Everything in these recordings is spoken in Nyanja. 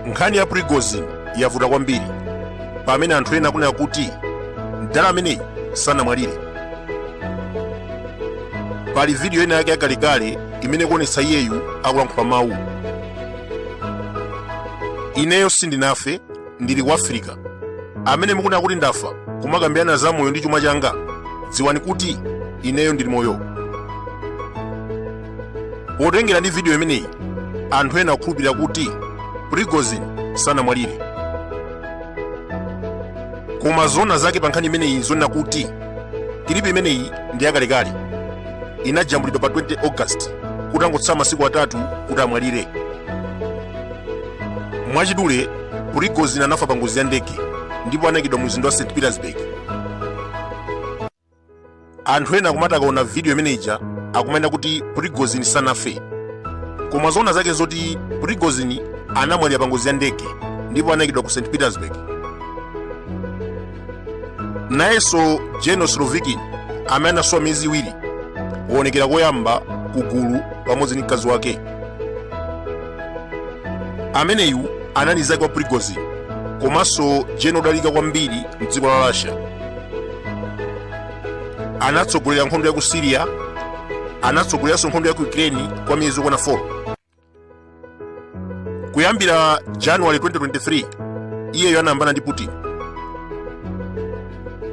nkhani ya prigozhin yavuta kwambiri pamene anthu ena akunena kuti mdala ameneyi sanamwalire pali vidiyo ina yake yakalekale imene ikuonetsa iyeyu akulankhula mawu ineyo sindinafe ndili ku afirika amene mukunena kuti ndafa kumakambirana za moyo ndi chuma changa dziwani kuti ineyo ndili moyo potengera ndi vidiyo imeneyi anthu ena akukhulupirira kuti prigozhin sanamwalire koma zona zake pa nkhani imeneyi nzonena kuti clip imeneyi ndi yakalekale inajambulidwa pa 20 august kutangotsala masiku atatu kuti amwalire mwachidule prigozhin anafa pa ngozi ya ndege ndipo anaikidwa mu mzinda wa st petersburg anthu ena akumati akaona vidiyo imene ija akumanena kuti prigozhin sanafe koma zoona zake nzoti prigozhin anamwalira pa ngozi ya ndege ndipo anaikidwa ku st petersburg nayenso general surovikin amene anasowa miyezi iwiri waonekera koyamba ku gulu pamodzi ndi mkazi wake ameneyu anali nzake wa prigozhin komanso general odalika kwambiri mdziko la russia anatsogolera nkhondo ya ku syria anatsogoleranso nkhondo ya ku ukraine kwa miyezi yokwana 4 kuyambira january 2023 iyeyo anayambana ndi putin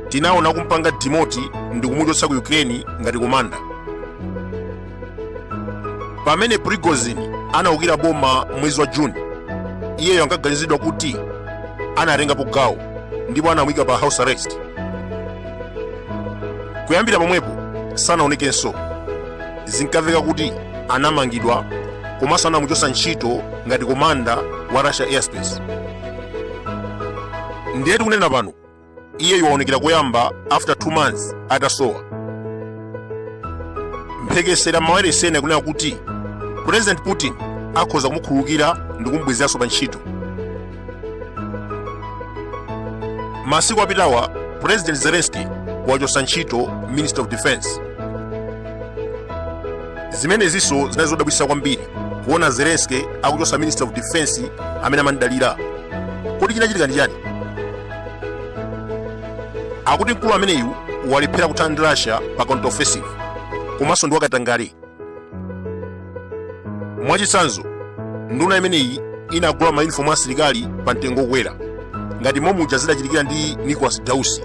tinaona kumpanga demote ndi kumuchotsa ku ukraine ngati komanda pamene prigozhin anaukira boma mwezi wa june iyeyo ankaganizidwa kuti anatengapo gawo ndipo anamuyika pa house arrest kuyambira pomwepo sanaonekenso zinkamveka kuti anamangidwa komanso anamuchotsa ntchito ngati komanda wa russia aerospace ndiye tikunena pano iyeyu waonekera koyamba after 2 months atasowa mphekesera mawayilesi ena akunena kuti president putin akhoza kumukhululukira ndi kumubwezeranso pa ntchito masiku apitawa president zelensky wachotsa ntchito minister of defense zimenezinso zinali zodabwitsa kwambiri kuona zelensky akuchotsa minister of defense amene amamudalira kodi chinachitika ndi chani akuti mkulu ameneyu walephera kuthana ndi russia pa counter offensive komanso ndi wakatangale mwachitsanzo nduna imeneyi inagula mayunifomu a asilikali pa mtengo wokwera ngati momuja zidachitikira ndi nicholas dausi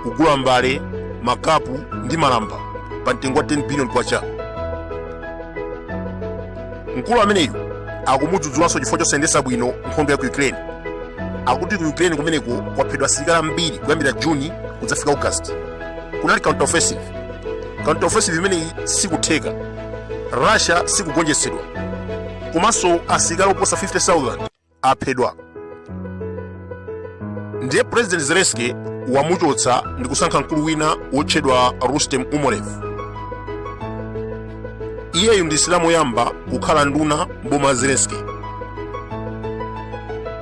kugula mbale makapu ndi malamba pa mtengo wa 10 billion kwacha mkulu ameneyu akumudzudzulanso chifukwa chosayendetsa bwino nkhondo ya ku ukraine akuti ku ukraine kumeneko kwaphedwa asilikali ambiri kuyambira juni kudzafika august kunali counter offensive counter offensive imeneyi sikutheka russia sikugonjetsedwa komanso asilikali oposa 50000 aphedwa ndiye president zelensky wamuchotsa ndi kusankha mkulu wina wotchedwa rustem umerov iyeyu ndi msilamu woyamba kukhala nduna mboma la zelensky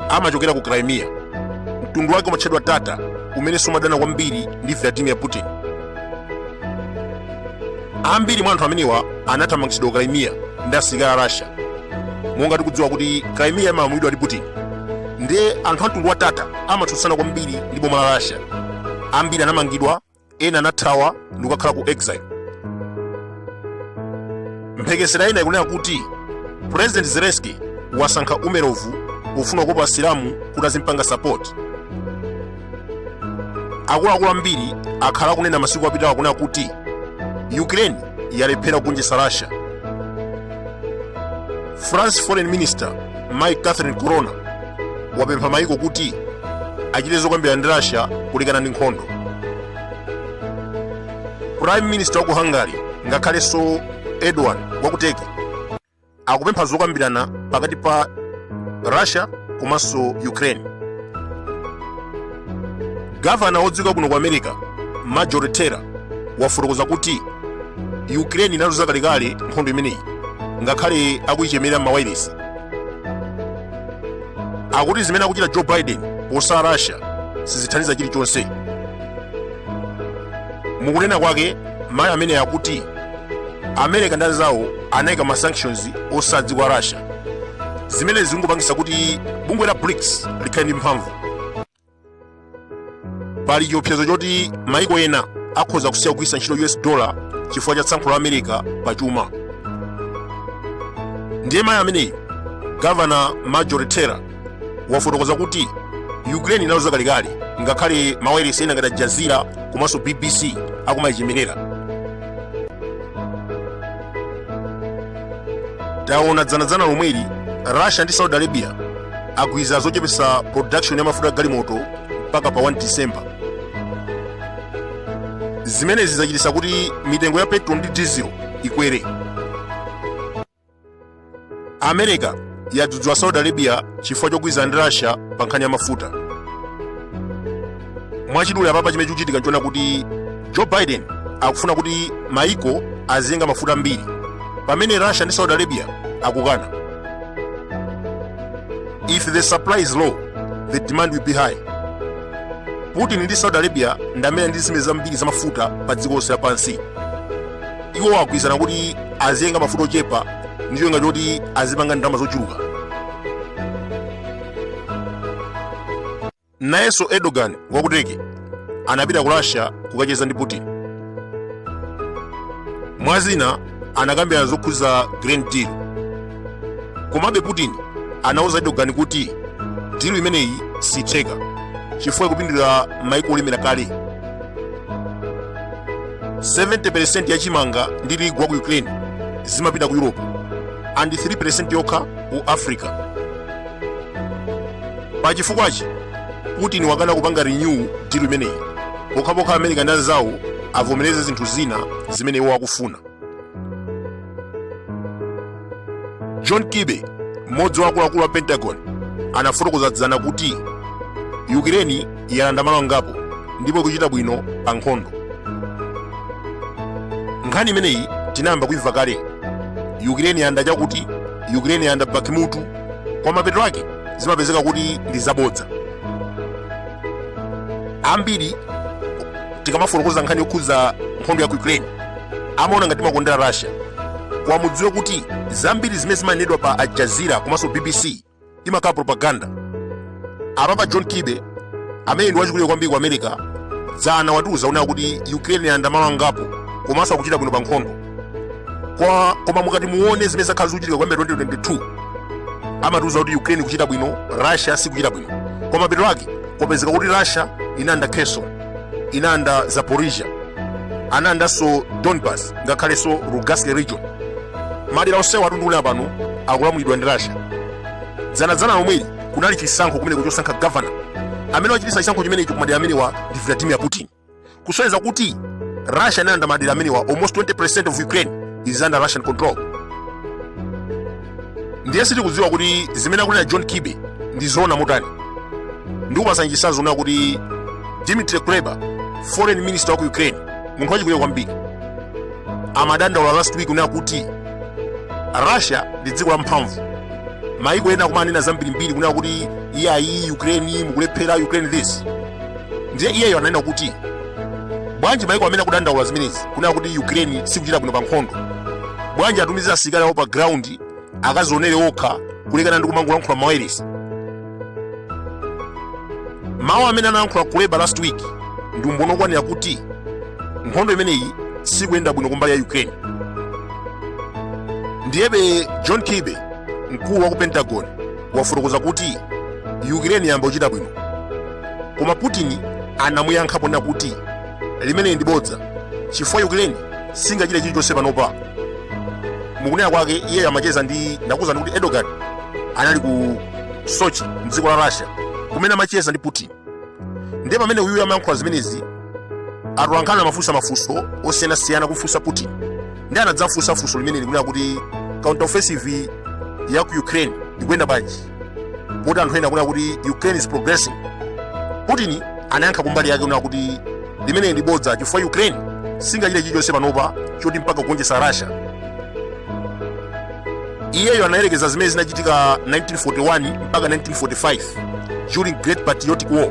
amachokera ku crimea mtundu wake umatchedwa tata umene sumadana kwambiri ndi vladimir putin ambiri mwa anthu amenewa anathamangitsidwa ku crimea ndi asilikali a russia monga tikudziwa kuti crimea imalamulidwa ndi putin ndiye anthu amtundu wa tata amatsutsana kwambiri ndi boma la russia ambiri anamangidwa ena anathawa ndi kukakhala ku exile mphekesera ina ikunena kuti president zelensky wasankha umerovu pofuna kukopa asilamu kuti azimpanga sapoti akuluakulu ambiri akhala akunena masiku apitawa kunena kuti ukraine yalephera kugonjetsa russia france foreign minister mayi catherine colonna wapempha maiko kuti achite zokambirana ndi russia kulekana ndi nkhondo prime minister wa ku hungary ngakhalenso erdogan wa ku turkey akupempha zokambirana pakati pa russia komanso ukraine gavana wodziwika bwino ku america marjorie taylor wafotokoza kuti ukraine inaluza kalekale nkhondo imeneyi ngakhale akuyichemerera m'mawailesi akuti zimene akuchita joe biden posala russia sizithandiza chilichonse mukunena kwake mayi amene akuti america ndi anzawo anayika ma sanctions osati kwa russia zimene zikungopangisa kuti bungwe la brics likhale ndi mphamvu pali chiopsezo choti maiko ena akhoza kusiya kugwiritsa ntchito us dollar chifukwa cha tsankho la america pa chuma ndiye mayi ameneyi gavana marjorie taylor wafotokoza kuti ukraine inaluza kalekale ngakhale mawayilesi ena ngati Jazeera komanso bbc akumayichemerera taona dzanadzana lomweli russia ndi saudi arabia agwirizana zochepetsa production ya mafuta galimoto mpaka pa 1 december zimenezi zachititsa kuti mitengo ya petrol ndi diesel ikwere america yadzudzula saudi arabia chifukwa chogwirizana ndi russia pa nkhani ya mafuta mwachidule apapa chimene chikuchitika nchoona kuti joe biden akufuna kuti maiko aziyenga mafuta ambiri pamene russia ndi saudi arabia akukana if the supply is low the demand will be high putin ndi saudi arabia ndi amene ali ndi zitsime zambiri za mafuta pa dziko lonse lapansi iwo agwirizana kuti aziyenga mafuta ochepa ndi cholinga choti azipanga ndalama zochuluka nayenso erdogan wa ku turkey anapita ku russia kukacheza ndi putin mwa zina anakambirana zokhudza grain deal komabe putin anauza erdogan kuti dilu imeneyi siitheka chifukwa ikupindulira maiko olemera kale 70% ya chimanga ndi tirigu wa ku ukraine zimapita ku europe and 3% yokha ku africa pa chifukwachi putin wakana kupanga renew dilu imeneyi pokhapokha america ndi anzawo avomereze zinthu zina zimene iwo akufuna john kirby mmodzi wa akuluakulu a pentagon anafotokoza dzana kuti yukireni yalanda malo angapo ndipo ikuchita bwino pa nkhondo nkhani imeneyi tinayamba kuimva kale yukireni yalanda chakuti yukireni yalanda bakimutu koma mapeto ake zimapezeka kuti ndi zabodza ambiri tikamafotokoza nkhani yokhudza nkhondo ya ku ukraine amaona ngati timakondera russia koma mudziwe kuti zambiri zimene zimanenedwa pa al jazeera komanso bbc imakhala propaganda apapa john kirby amene ndi wachikulire kwambiri ku america dzana watiuza kunena kuti ukraine yalanda malo angapo komanso akuchita bwino pa nkhondo koma mukati muone zimene zakhala zikuchitika kuyambira 2022 amatiuza kuti ukraine ikuchita bwino russia sikuchita bwino koma mapeto ake kupezeka kuti russia inalanda kherson inalanda zaporizhia analandanso donbas ngakhalenso lugansk region madera onsewa tatchulawa pano akulamulidwa ndi russia dzanadzana lomweli kunali chisankho kumeneko chosankha gavana amene wachititsa chisankho chimenecho ku madera amenewa ndi vladimir putin kusonyeza kuti russia inalanda madera amenewa almost 20% of ukraine is under russian control ndiye sitikudziwa kuti zimene akunena john kirby ndi zoona motani ndikupatsani chitsanzo na kuti dimitri kuleba foreign minister wa ku ukraine munthu wachikulire kwambiri amadandaula last week kunena kuti russia ndi dziko lamphamvu maiko ena akumanena zambirimbiri kunena kuti iyayi ukraine mukulephera ukraine this ndiye iyeyo ananena kuti bwanji maiko amene akudandaula zimenezi kunena kuti ukraine sikuchita bwino pa nkhondo bwanji atumize asilikali awo pa ground akazionere okha kulekana ndi kumangolankhula mawailesi mawu amene analankhula kuleba last week ndi umboni okwanira kuti nkhondo imeneyi sikuyenda bwino kumbali ya ukraine ndiyebe john kirby mkulu wa ku pentagon wafotokoza kuti Ukraine yayamba kuchita bwino. Koma Putin anamuyankha ponena kuti limeneli ndi bodza chifukwa Ukraine singachite chilichonse panopa. Mukunena kwake iyeyo amacheza ndi ndakuzani kuti Erdogan anali ku Sochi mdziko la Russia kumene amacheza ndi Putin. ndiye pamene uyuyu amayankhula zimenezi atolankhani amafunsa mafunso osiyanasiyana kumfunsa putin ndiye anadzamfunsa funso limeneli kunena kuti counter offensive ya ku ukraine ikuyenda bwanji poti anthu ena akunena kuti ukraine is progressing putin anayankha kumbali yake kunena kuti limeneli ndi bodza chifukwa ukraine singachite chilichonse panopa choti mpaka kugonjetsa russia iyeyo anayerekeza zimene zinachitika 1941 mpaka 1945 during great patriotic war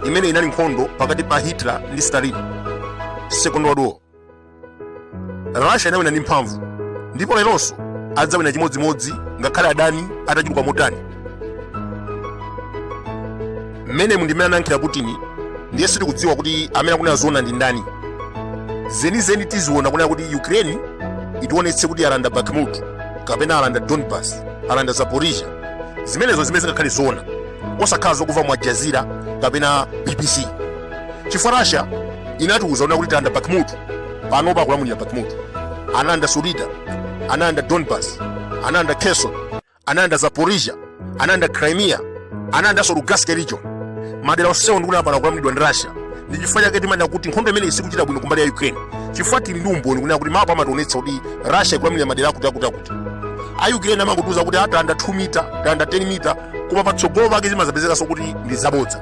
imene inali nkhondo pakati pa hitler ndi stalin second world war russia inawina ndi mphamvu ndipo leronso adzawina chimodzimodzi ngakhale adani atachuluka motani mmene umu ndi mmene anayankhira putin ndiye sitikudziwa kuti amene akunena zoona ndi ndani zenizeni tiziona kunena kuti ukraine itiwonetse kuti alanda bakhmut kapena alanda donbas alanda zaporizhia zimenezo zimene zingakhale zoona osakhala zokumva mu al jazeera kapena bbc chifukwa russia inatiuza kunena kuti talanda bakhmut panopa akulamulira bakhmut analanda soledar analanda donbas analanda kherson analanda zaporizhia analanda crimea analandanso lugansk region madera onsewo ndikuti pano akulamulidwa ndi russia ndi chifukwa chake timanena kuti nkhondo imeneyi sikuchita bwino kumbali ya ukraine chifukwa tili ndi umboni kunena kuti mapu amationetsa kuti russia ikulamulira madera akuti akuti akuti a ukraine amangotiuza kuti talanda 2 mita talanda 10 mita koma patsogolo pake zimadzapezekanso kuti ndi zabodza